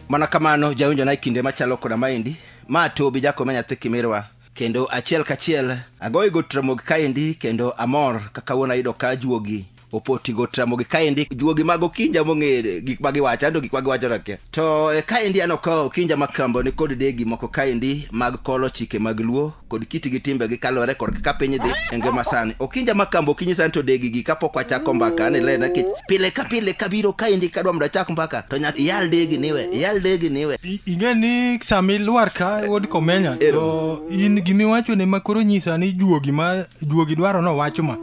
mana kamano jawinjo na e kinde machalo koda maendi ma tobi jakome nyathi kimirwa kendo achiel kachiel agoyi go tramogi kaendi kendo amor kaka wuon ayudo ka juogi opoti go tramogi kaendi juogi mag okinja mong'ere gik ma giwacho ando gik ma giwacho rake to e, kaendi aneno ka okinja ma kambo ni kod degi moko kaendi mag kolo chike mag luo kod kiti gi timbe gi kalore kod kaka piny dhi e ngima sani okinja ma kambo okinyi sani to degi gi kapok wachako mbaka ni lena kech pile ka pile kabiro kaendi kadwa mondo achak mbaka to nyaka iyal degi niwe iyal degi niwe I- ing'e ni sami lwar ka wuod komenya to in gimiwacho ne makoro nyisa ni juogi ma juogi dwaro nowacho ma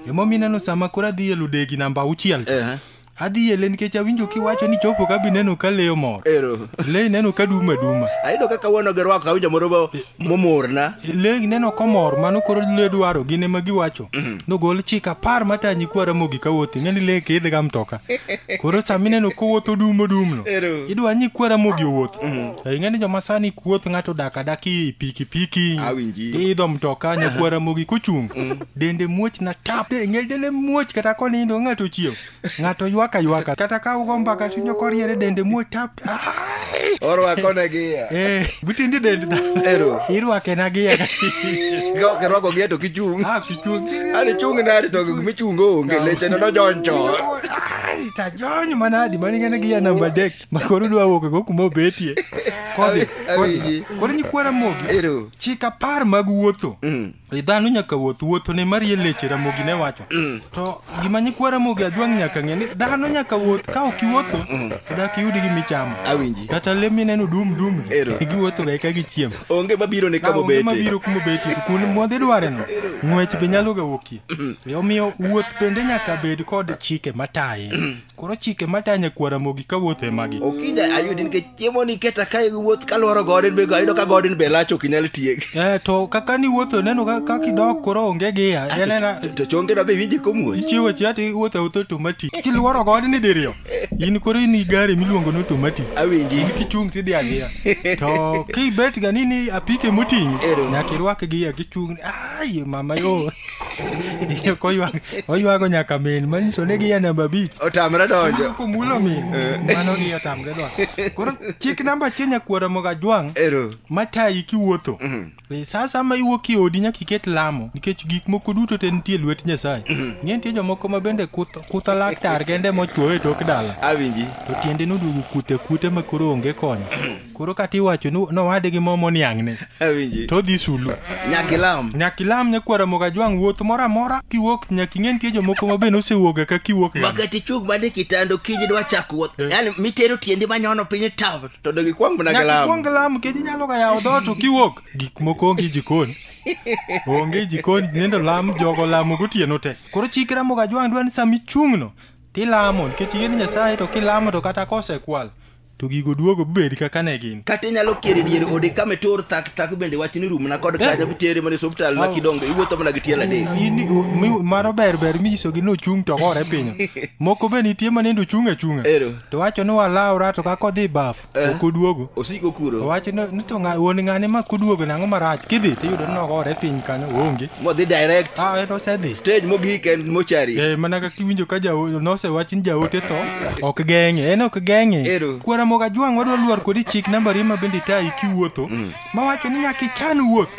Emomiyo ineno sama koro adhi e ludegi namba auchiel cha. Ehe. Adhi ele nikech awinjo kiwacho ni chopo ka bineno ka leyo mor. Ero. Le ineno ka duma duma. Ayudo kaka wuono gi rwako awinjo moro mo- momorna. Le ineno komor mano koro le dwaro gin ema giwacho. Nogol chik apar matanyi kwa Ramogi ka wuothi ng'eni le kidh ga mtoka. Koro sama ineno kowuotho dum odum no. Ero. Idwa ni kwa Ramogi owuoth. To ing'eni joma sani kuoth ng'ato dak adaki pikipiki. Awinji. Idho mtoka nyakwa Ramogi kochung'. dende muoch na tap e ngel dele muoch kata konindo ng'ato chiew ng'ato ywak aywaka kata ka ugo mbaka tinyo koriere dende muoch tap Ai! orwako ne gi ya Eh, butindi dende na Ero. irwake na gi Ka kirwako gi to kichung ah kichung ani chung na to gimi chung onge leche no donjo Ai, tajony manadi maningene gi ya namba dek makoro dwa wuok go kuma obetie kodhi Awi- awinji. kodhi. koro nyikwara mogi Ero. chik apar mag wuotho Mm. E dhano nyaka wuoth wuotho ne marie leche ramogi ne wacho mm. to gima nyikwa ramogi ajwang' nyaka ng'e ni dhano nyaka wuoth ka ok iwuotho mm. dak iyudi gi michamo awinji kata le mineno dum dum giwuotho ga eka gichiem onge mabiro ne kama obete mabiro kuma obete kuno modhi dware no ng'wech be nyalo ga wuokie mm. omiyo wuoth bende nyaka bed kod chike mataye Koro chike matanya kwara mogi ka wuoth e magi. Okinda ayudi nikech chiemo ni keta ka wuoth ka lworo godin be ayudo ka godin be lach ok inyal tiek. Eh to kaka ni wuotho neno ka ka kidok koro onge giya. Ah, Yanena To chonge na be winje komuoch. ichiwo chia ti wuotho awuotha automatic. Kilworo godni diriyo. In koro in i gari miluongo ni automatic. Awinji. Kichung' tidhi adhiya. To kibet ga ni ni apike moting'i. Ero. Nyaka irwak giya kichung'. Ai mama yo. Iyo koywak oywago nyaka min manyiso ni giya namba abich otamre donjo komulo min mano gi otamre dwa koro chik namba achiel nyakwara moga jwang' ero matayi kiwuotho E, sa sama iwuok e odi nyaka iket lamo nikech gik moko duto te nitie e lwet nyasaye ng'e nitie jomoko ma bende kuth- kutha laktar kende mochuoyo e tok dala awinji to tiende noduogo kute kute ma koro onge konyo koro kata iwacho ni nowade gi mo moniang'ne awinji to odhi sulu nyaka ilam nyaka ilam nyakwara mogajwang' wuoth moro amora kiwuok nyaka ing'e nitie jomoko ma be nosewuoga ka kiwuok ga. makati ichung mane kitando kiny idwa chako wuoth yani mitero tiendi manyono piny taw to dog ikwang mana nyaka galam ikwong lam kech inyalo ga yawo dhoot to kiwuok gik moko onge jikon onge jikon nendo lam jogo lamo gotieno te koro chikra mogajwang' dwa ni sama ichung'no tilamo nikech ing'e ni nyasaye to kilamo to kata kosekwal to gigo duogo bed kaka ne gin kata inyalo kier e dier ode kama itur thak thak bende wach ni rumna kod kanyo bitere mana e osuptal ma kidongo iwuotho mana gi tielo adek In- mi- mano ber ber minyisogi ni ochung' to gore piny moko be nitie ma nindo ochung' achung'a Ero. to wacho ni walawra to kaka odhi baf ok oduogo osiko kuro owacho ni ni to ng'a- wuon ng'ane ma koduogo nang'o marach kidhi tiyudo ni nogore piny kanyo onge modhi direct ah en osedhi stage mogik en mochari Eh, mana kaka iwinjo ka jaote nosewach ni jaote tho ok geng'e en ok geng'e Ero. kwara moga jwang' wadwa lwar kodi chik nambari ma bende tayi kiwuotho mawacho ni nyaka ichan wuoth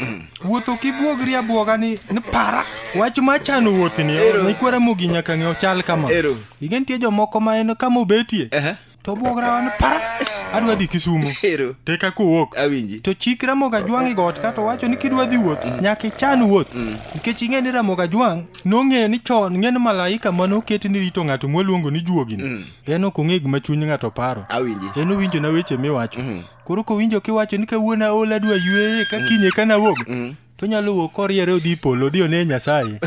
wuoth ok ibuogri abwoga ni ni para wach ma chano wuothni Ero. ni kwara mogi nyaka ng'e ochal kama Ero. ing'e nitie jomoko ma en kama obetie Ehe. to obwog rawan para adwa dhi kisumo Ero. to eka kowuok Awinji. to chik ramoga jwang' e got kato wacho ni kidwa dhi wuoth nyaka ichan wuoth nikech ing'e ni ramoga jwang' nong'eyo ni chon ng'e ni malaika mane oket ni rito ng'ato mwaluongo ni juogini en ok ong'e gima chuny ng'ato paro Awinji. en owinjona weche miwacho koro kowinjo kiwacho ni kawuono aol adwa yueye ka kinye ka nawuog to nyalo wuok koriere odhi polo odhi one nyasaye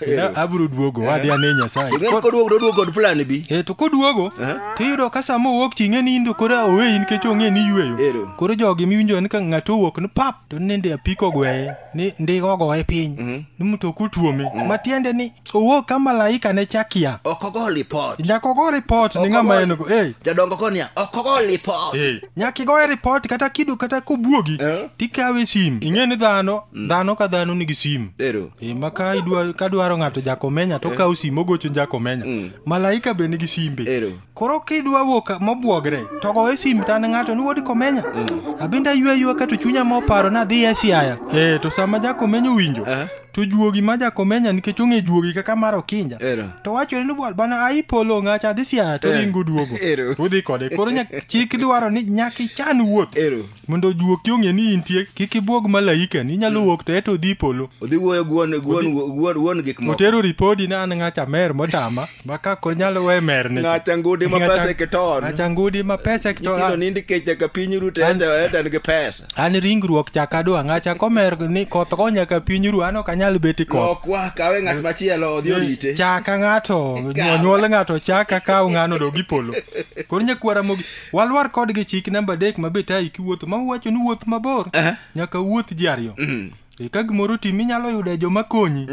Kendo abiro duogo wadhi ane nyasaye Ing'e ni koduogo doduogo kod plan bi. Eh, to koduogo to iyudo ka sama owuok ching'e ni indo koro oweyi nikech ong'e ni Ero. yweyo koro jogi miwinjo ni ka ng'ato owuok ni pap to ni ndi apiko gweye ni ndi ogoye piny ni mtoka otuome matiende ni owuok ka malaika ne chakia Ok ogo lipot. nyaka ogo ripot ni ng'ama en go eh Jodongo konia ok ogo lipot. eh nyaka igoye ripot kata kido kata kobuogi Eh. tikawe sim ing'e ni dhano dhano ka dhano nigi sim Ero. Eh, ma ka idwa- ka dwaro ng'ato jakomenya to kawo sim ogocho jakomenya malaika be nigi simbe Ero. koro kidwa wuok mobwogre to goye sim tan ng'ato ni wodi komenya abende aywe aywa kato chunya moparo nadhi e siaya eh to sama jakomenya owinjo Eh. to juogi ma jakomenya nikech ong'e juogi kaka mar okinja Ero. to wachore ni bwana bana ai polo ng'acha adhi siaya to Eh. ringo duogo Ero. udhi kode koro nyak- chik dwaro ni nyaka ichan wuoth Ero. mondo juoki ong'e ni intie kik ibuog malaika ni inyalo wuok to eto odhi polo Odhi wuoyo gi wuon- gi wuon- gi wuon- wuon gik moko. otero ripodi ni an ng'acha mer motama ma kako nyalo we mer ne Ng'acha ngudi ma pesa e kiton. ng'acha ngudi ma pesa e kiton Nyithindo nind kech nyaka piny rute enda enda nigi pesa. an ringruok chak adwa ng'acha komer ni koth go nyaka piny ru an ok anyal bet i koth lok wa kawe ng'at machielo odhi orite chaka ng'ato Kaw. nyuol ng'ato chaka kaw ng'ano dog ipolo koro nyakwara mogi walwar kodgi chik namba adek ma be tayi kiwuotho ma uwacho ni wuoth mabor Aha. nyaka wuoth ji ariyo E, ka gimoro tim inyalo yudo joma konyi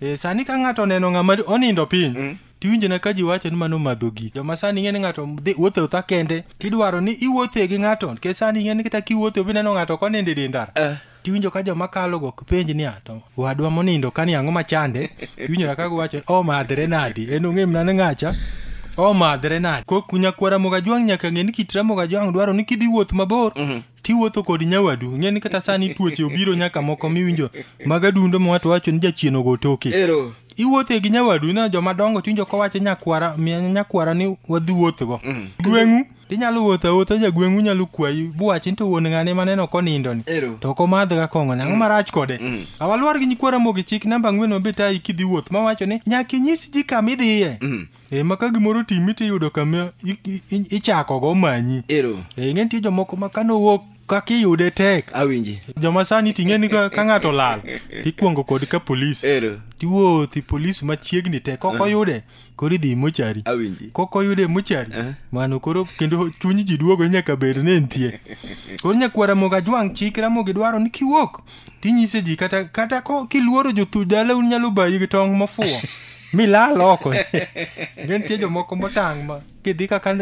E, sani ka ng'ato oneno ng'ama onindo piny tiwinjo na ka ji wacho ni mano madho gik joma sani ing'e ni ng'ato dhi wuothe otha kende tidwaro ni iwuothe gi ng'ato nikech sani ing'e ni kata kiwuothe obi neno ng'ato koninde dindara Eh. tiwinjo ka joma kalo go kipenj ni ato wadwa monindo kani ang'o machande iwinjo na kago wacho omadhre nadi en ong'e mna ni ng'acha omadhre nadi kok nyakwara mogajwang' nyaka ng'e ni kit ramoga jwang' dwaro ni kidhi wuoth mabor tiwuotho kod nyawadu ing'e ni kata sani tuoche obiro nyaka moko miwinjo mag adundo ma wato wacho ni jachien ogo toke Ero. iwuothe gi nyawadu na joma dongo tiwinjo kowacho nyakwara miya nyakwara ni wadhi wuothgo gweng'u tinyalo wuotho awuotha jagweng'u nyalo kwayi buwachi ni to wuon ng'ane maneno konindoni Ero. to ok omadhga kong'one ang'o marach kode awalwar gi nyikwara mogi chik namba ang'wen mabet ayi kidhi wuoth mawacho ni nyaka inyis ji kama idhiye e ma ka gimoro otimi to iyudo kama i- i- i- ichakogo omanyi ero e ing'e nitie jomoko ma kane owuok kaka iyude tek awinji joma sani ting'e ni ka ka ng'ato lal tikwongo kod ka polis ero tiwuothi polis machiegni te kok oyude koro idhi mochari awinji kok oyude mochari Eh. mano koro kendo chuny ji duogo nyaka bed ni nitie koro nyakwara moga jwang' chik ramogi dwaro ni kiwuok tinyise ji kata kata ko kiluoro jothu dala un nyalo bayi gi tong' mofuwo milal oko ne nitie jomoko motang' ma kidhi kaka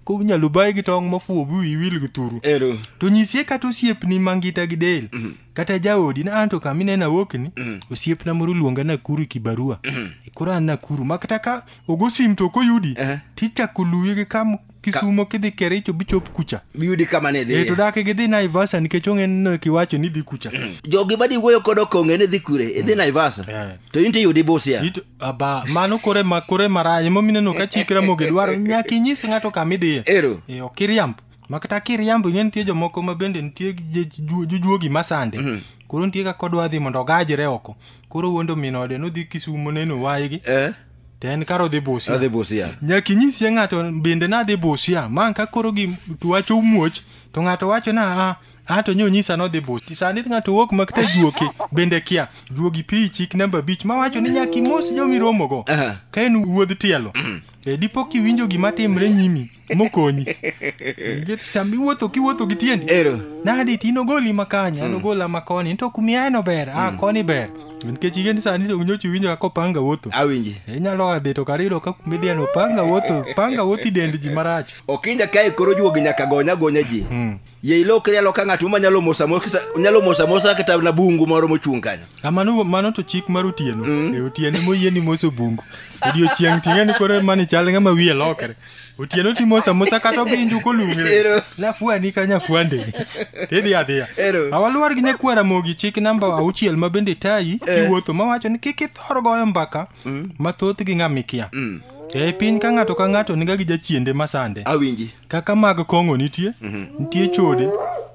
kunyalo bayi gi tong' mofuwo bi iwil gi turu ero to nyise kata osiepni mangita gi del kata jaodi na anto kama ineno awokni osiepna moro luonga nakuru e kibarua koro an nakuru ma kata ka ogo sim to ok oyudi Eh. tichako luwi gi kam kisumo kidhi kericho bichop kucha biyudi kama ne e to idhi dak gidhi naivasa nikech ong'e ni kiwacho ni dhi kucha jogi madi wuoyo kod okonge ni dhi kure idhi naivasa Eh. to in tiyudi busia It- aba mano kore ma kore marach momineno ka chikra moge dwaro nyaka inyis ng'ato kama idhiye ero e ok iriamb ma kata kiriambo ing'e nitie jomoko ma bende nitie gi- je- ju- jujuogi masande koro nitie kaka odwa dhi mondo ogajre oko koro wuondo min ode nodhi kisumo neno waygi Eh. to en kar odhi busia adhi busia nyaka inyisie ng'ato bende nadhi busia ma ka koro gi to wacho muoch to ng'ato wacho na a a to nyo nyisa nodhi busia sani ng'ato wuok ma kata juoki bende kia juogi pi chik namba abich ma wacho ni nyaka imos jomiromogo Aha. ka en wuodh tielo e dipo kiwinjo gima timre nyimi mokonyi Nikech sama iwuotho kiwuotho gi tiendi Ero. nadi ti nogoli ma kanya nogola ma koni to kumieno ber a koni ber nikech ige ni sani to nyochi winjo kaka opanga wuotho Awinji. inyalo a dhi to kar yudo ka kumidhieno panga wuotho panga wuothi dend ji marach Okinja kae koro juogi nyaka gonya gonya ji. ye ilokri aloka ng'at ma nyalo mosa mosa nyalo mosa mosa kata na bungu moro mochung' kanyo Ah, mano mano to chik mar otieno e otieno moyie ni moso bungu odiochieng' ting'e ni koro mani chal ng'ama wiye lokre otieno timosa mosa kata obinju kolung're Ero. nafuani ka nyafuande tidhi adhiya Ero. awaluwar gi nyakwara mogi chik namba auchiel ma bende tayi iwuotho mawacho ni kik ithor goyo mbaka mm. ma thothgi ng'a mikia mm. E piny ka ng'ato ka ng'ato niga gi jachiende masande. Awinji. Kaka mag kong'o nitie, mm -hmm. nitie chode,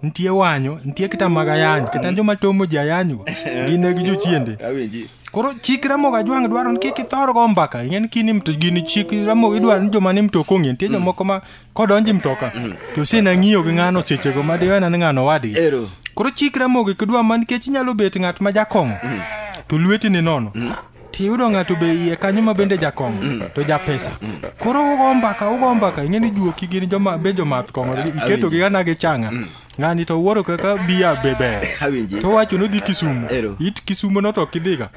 nitie wanyo, nitie kata mag ayany, kata mm -hmm. joma tomo ji ayany go, gin gi jochiende. Awinji. Koro chik Ramogi Ajwang' dwaro ni kik ithor go mbaka, ing'e ni kini mto gini chik Ramogi idwaro ni joma ni mto kong'e, nitie mm. jomoko ma kodonji mtoka to ose nang'iyo gi ng'ano sechego ma diwena ni ng'ano wadgi Ero. koro chik ramogi kidwa ma nikech inyalo bet ng'at ma jakong'o to lweti ni nono tiyudo ng'ato be iye kanyo ma bende jakong'o to japesa koro ugo mbaka ugo mbaka ing'e ni juoki gin joma be jomath kong'o iketogi gana gi changa ng'ani to wuoro kaka biya be ber Awinji. to wacho nodhi kisumu Ero. it kisumu no to kidhiga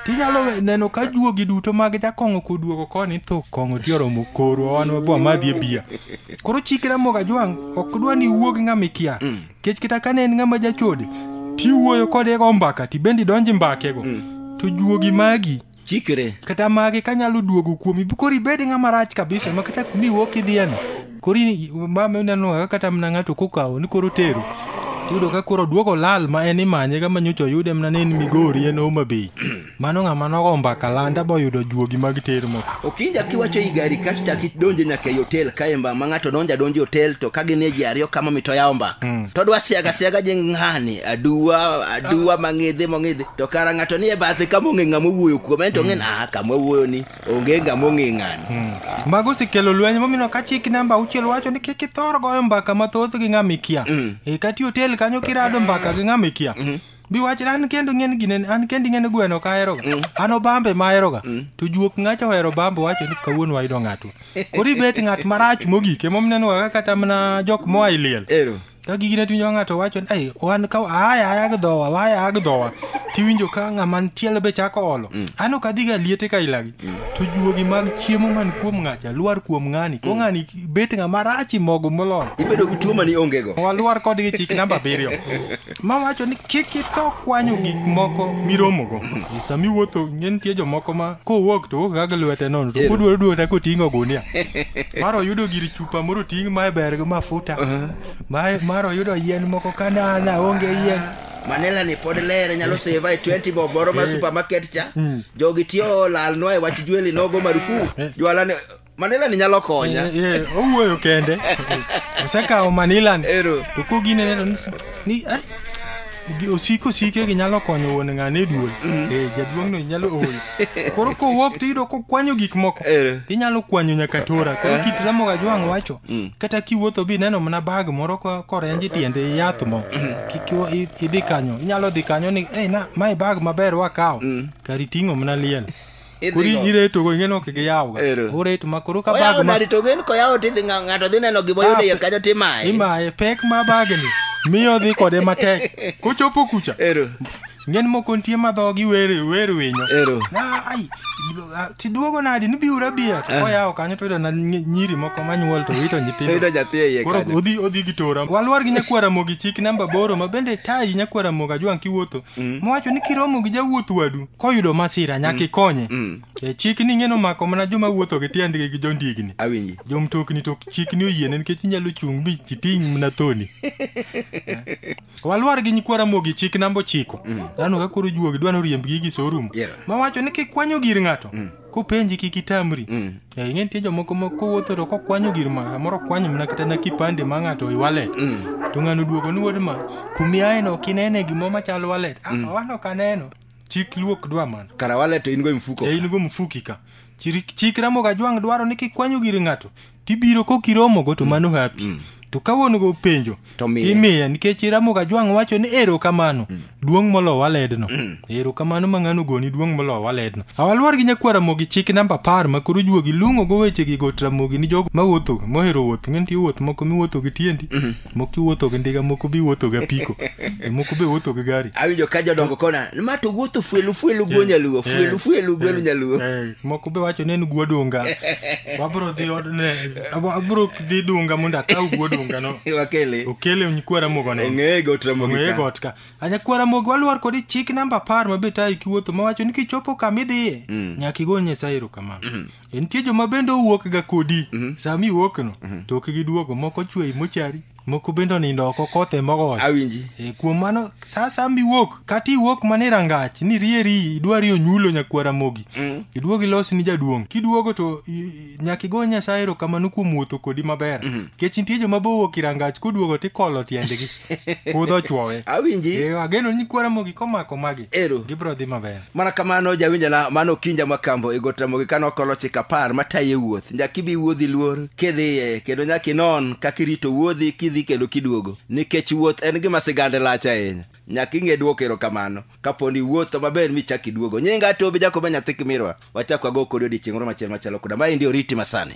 tinyalo we- neno ka juogi duto mag jakong'o koduogo koni tho kong'o ti oromo koro wan wabwa madhi e biya koro chikra moga jwang' ok dwa ni wuog ng'ama ikia kech kata kane en ng'ama jachode tiwuoyo kode go mbaka tibende idonje mbakego to juogi magi chikre kata magi kanyalo duogo kuomi koro ibed ng'ama rach kabisa ma kata kumi wuok idhiyeno koro in- mama ineno kaka kata mna ng'ato kokawo ni koro tero tiyudo ka koro duogo lal ma en imanye ka manyocha oyude mna ni en migori en homa bay mano ng'ama nogo mbaka landa boyudo juogi mag ter moko okinja kiwacho i gari kato chak idonje nyaka ei otel kae mba ma ng'ato donjo adonja e otel to ka gin e ji ariyo kama mito yawo mbaka to dwa siaga siaga je ng'ani aduwa aduwa mang'idhi mong'idhi to kara ng'ato nie bathe kama ong'e ng'ama owuoyo kuome en to ong'e ni aha kama owuoyo ni onge ng'ama ong'e ng'ani mago osekelo lweny momiyo ka chik namba auchiel wacho ni kik ithor goyo mbaka mathoth gi ng'ama ikia e kati otel kanyo kirado mbaka gi ng'ama ikia biwach an kendo ng'en gine an kendi ng'en gweno ka aheroga an obambe ma aheroga to juok ng'acha ohero bambe wacho ni kawuono wayudo ng'atwa koro ibet ng'at marach mogik emomineno kaka kata mana jok moa e liel Ero. ka gigi ne tiwinjo ka ng'ato wacho ni "Ai, wan ka aya aya gi dhowa waya aya gi dhowa tiwinjo ka ng'ama ntiel be chako olo an ok adhi ga liete ka ilagi to juogi mag chiemo man kuom ng'acha lwar kuom ng'ani ko ng'ani bet ng'ama rachi mogo moloyo ibedo gi tuo mani ongego walwar kodgi chik namba abiriyo ma wacho ni kik ito kwanyo gik moko miromogo E sama iwuotho ing'e nitie jomoko ma kowuok to wuok ga gi lwete nono to Ero. kodwaro duoda koting'o gunia mar oyudo gir chuo pamoro ting' mae ber gi mafuta mae mar oyudo yien moko kanana onge yien manila ni pod lere nyalo seva e 20 bob moro mar supermarket cha jogi tiyo olalnwa e wach jweli nogo marufu jwala ni manila ni nyalo konya Eh, eh, owuoyo kende osekawo manilani Ero. to koginene to ni- ni eh, Gi- osiko sike gi nyalo konyo wuon ng'ane duol Eh, jaduong' no nyalo ol koro kowuok to iyudo kokwanyo gik moko Eh. inyalo kwanyo nyaka tora koro kit ramoga jwang' wacho kata kiwuotho bi neno mana bag moro ko- korenji tiende yath mo kik iwa- i- idhi kanyo inyalo dhi kanyo ni "Ei, na mae bag maber wakawo kari ting'o mana liel Idhi kori go. ireto go ing'eno kik iyaw ga Ero. ureto ma koro ka Oyawo bag ma nadi to ng'en koyawo tidhi ng'a- ng'ato dhi neno gima oyudo iye kanyo timaye. imaye pek ma bagni miyo dhi kode matek kochopo kucha Ero. ng'en moko nitie ma dhogi wer wer winyo Ero. Na, ai ah, tiduogo nadi ni biura bia to koyawo kanyo to yudo na nyi- nyiri moko manyuol to wito Oyudo nyithindo nyathi e iye koro kanyo. odhi odhi gi tora walwar gi nyakwara mogi chik namba boro ma bende tayi nyakwara moga jwang kiwuotho mm. mowacho ni kiromo gi jawuoth wadu koyudo masira nyaka mm. ikonye mm. e, chik ni ng'eno mako mana joma wuotho gi tiendgi gi jondigni awinji jomtokni to chik ni oyiene nikech inyalo chung' mi chiting' mna thoni e, walwar gi nyikwara mogi chik namba ochiko mm. dhano ka koro juogi dwa noriembgi gi sorum yeah. mawacho ni kikwanyo gir ng'ato mm. kopenji kik itamri Mm. Eh, ing'e nitie jomoko ma kowuotho to kokwanyo gir ma samoro okwany mana kata na kipande ma ng'ato e wallet to ng'ano duogo ni wuod ma kumiaeno ok inene gimoro machal wallet ah wan ok aneno chik luok dwa mana kara wale to in go e mfuko e in go mfuki ka Chiri- chik ramoga jwang' dwaro ni kikwanyo gir ng'ato tibiro kok iromogo to mano hapi to ka wuon go penjo To miye. imiye nikech iramoga jwang' wacho ni erokamano duong' moloyo waledno erokamano ma ng'ano goni duong' moloyo waledno awalwar gi nyakwar ramogi chik namba apar ma koro juogi lung'ogo wechegi got ramogi ni jogo mawuothoga mohero wuoth ng'e nitie wuoth moko miwuotho gi tiendi moko iwuotho gi ndiga moko be iwuotho gi apiko e, moko be iwuotho gi gari awinjo ka jodongo kona ma to wuotho fuelu fuelu go nyaluo fuelu fuelu gwelu nyaluo Eh, moko be wacho ni en guo dunga wabro dhi odne abro dhi dunga mondo akaw guo dunga no wakele okele nyikwara mogo ne ong'eye got ramogi ong'eye ka. got ka anyakwara mogo waluor kodi chik namba apar ma be tayi kiwuotho mawacho ni kichopo kama idhiye nyaka igol nyasaye erokamano E, nitie joma bende owuok ga kodi mm-hmm. sami wuok no mm-hmm. to ok giduogo moko chwei mochari moko bende onindo oko kothe mogo awinji e, kuom mano sa sami wuok kata iwuok mana e rangach ni rieri idwari onyulo nyakwara mogi mm. iduog ilos ni jaduong' kiduogo to nyaka igo nyasaye erokamano kuom wuotho kodi maber mm-hmm. kech nitie joma bowuok irangach koduogo tikolo tiendgi kudho ochwowe awinji Eh, ageno ni kuora mogi komako magi Ero. gibiro dhi maber mana kamano jawinjana mano kinja makambo e got ramogi kane okolo chik apar mataye wuoth nyaka ibi wuodhi luor kidhiye kendo nyaka inon kaka irito wuodhi kidhi kendo kiduogo nikech wuoth en gima sigande lach ahinya nyaka ing'e dwoko erokamano kapo ni iwuotho maber michak iduogo nyinga tobi jakoba nyathi kimirwa wachak wago kodi odiechieng' moro machielo machalo koda ma endi oriti masani